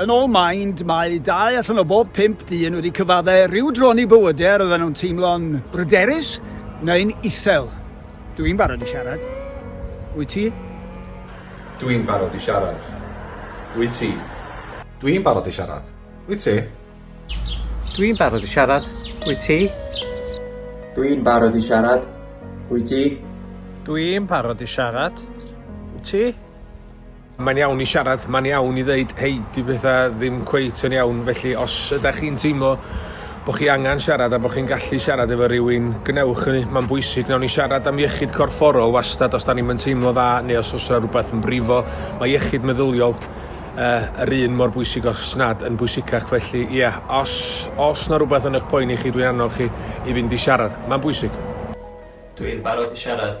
Yn ôl Mind, mae dau allan o bob pump dyn wedi cyfaddau rhyw dron i bywydau a roedden nhw'n teimlo'n bryderus neu'n isel. Dw i'n barod i siarad. Wyt ti? Dw i'n barod i siarad. Wyt ti? Dw i'n barod i siarad. Wyt ti? Dw i'n barod i siarad. Wyt ti? Dw i'n barod i siarad. Wyt ti? Dw i'n barod i siarad. Wyt ti? Mae'n iawn i siarad, mae'n iawn i ddeud hei, 'di pethau ddim cweit yn iawn, felly os ydych chi'n teimlo bod chi angen siarad a bod chi'n gallu siarad efo rhywun, gwnewch hynny, mae'n bwysig. Wnawn ni siarad am iechyd corfforol wastad os da ni'n yn teimlo dda neu os oes rhywbeth yn brifo. Mae iechyd meddyliol uh, yr un mor bwysig os nad yn bwysicach, felly ie, yeah, os, os na rhywbeth yn eich poeni chi, dwi'n annog chi i fynd i siarad. Mae'n bwysig. Dwi'n barod i siarad.